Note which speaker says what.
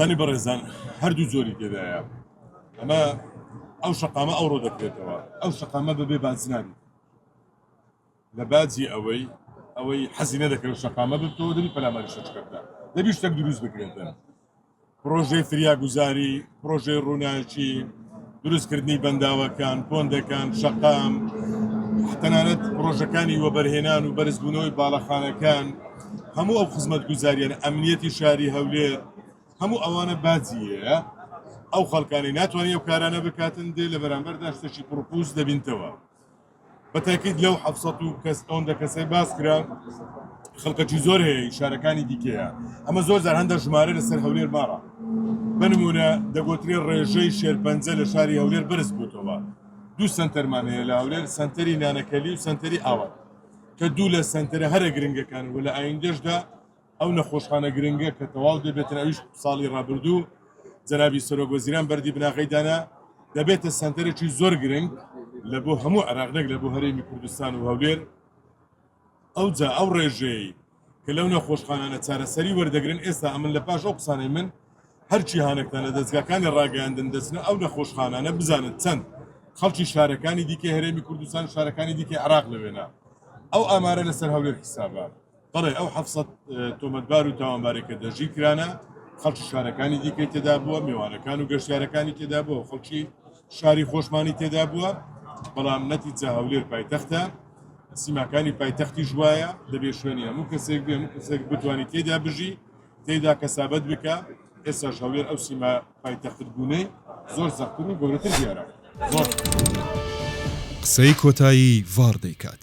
Speaker 1: بەلی بەڕێزان هەردوو جۆری تێدایە ئەمە ئەو شقامە ئەوڕۆ دەکرێتەوە ئەو شقامە بەبێ بازنابی لە باجی ئەوەی ئەوەی حەزینە دەکەن شقامە بتەوە دەبی پەلاماری شەچکەدا دەبی شتێک دروست بکرێتە پرۆژەی فریاگوزاری پرۆژەی ڕووناکی دروستکردنی بەنداوەکان، پۆندەکان، شەقام، تەنانەت پڕۆژەکانی وەبەرهێنان و بەرزبوونەوەی باڵەخانەکان، هەموو ئەو خزمەتگوزارییانە، ئەمنیەتی شاری هەولێر، هەموو ئەوانە باجی هەیە، ئەو خەڵکانەی ناتوانین ئەو کارانە بکاتن، دێ لە بەرامبەردا شتێکی پڕوپووچ دەبینتەوە. بە تاکید لەو حەفت سەد و کەس ئەوەندە کەسەی باس کرا خەڵکەکی زۆر هەیە شارەکانی دیکەیە ئەمە زۆر جار هەندە ژمارە لەسەر هەولێر ماڕە بنمونە دەگوترێ ڕێژەی شێرپەنجە لە شاری هەولێر بەرز بووتەوە دوو سنتەرمان هەیە لە هەولێر سنتەری نانەکەلی و سنتەری ئاوات کە دوو لە سنتەرە هەرە گرنگەکان و لە ئایندەشدا ئەو نەخۆشخانە گرنگە کە تەواو دەبێتن ئەویش ساڵی رابردوو جەنابی سەرۆک وەزیران بەردی بناغەی دانا، دەبێتە سەنتەرێکی زۆر گرنگ لە بۆ هەموو عێراق نەک لە بۆ هەرێمی کوردستان و هەولێر، ئەوجا ئەو رێژەیەی کە لەو نەخۆشخانانە چارەسەری وەردەگرن ئێستا ئەمن لە پاش ئەو قسانەی من هەر جیهانەکتان لە دەزگاکانی راگەیاندن دەچنە ئەو نەخۆشخانانە بزانن چەند خەڵکی شارەکانی دیکەی هەرێمی کوردستان و شارەکانی دیکەی عێراق لەوێنە ئەو ئامارە لەسەر هەولێر حیسابە. بەڵێ ئەو حەفت سەد تۆمەتبار و تاوانبارێک کە دەژی کرانە خەڵکی شارەکانی دیکەی تێدا بووە میوانەکان و گەشتارەکانی تێدا بووە خەڵکی شاری خۆشمانی تێدا بووە بەڵام نەتیجە هەولێر پایتەختە سیماکانی پایتەختی ژوایە دەبێ شوێنی هەموو کەسێک بێ هەموو کەسێک بتوانانی تێدا بژی تێدا کەسابەت بکە ئێستاش هەولێر ئەو سیما پایتەخت بوونەی زۆر زەختتر و گەورەتر دیارە
Speaker 2: زۆر
Speaker 1: قسەی کۆتایی
Speaker 2: ڤاڕ
Speaker 1: دەیکات.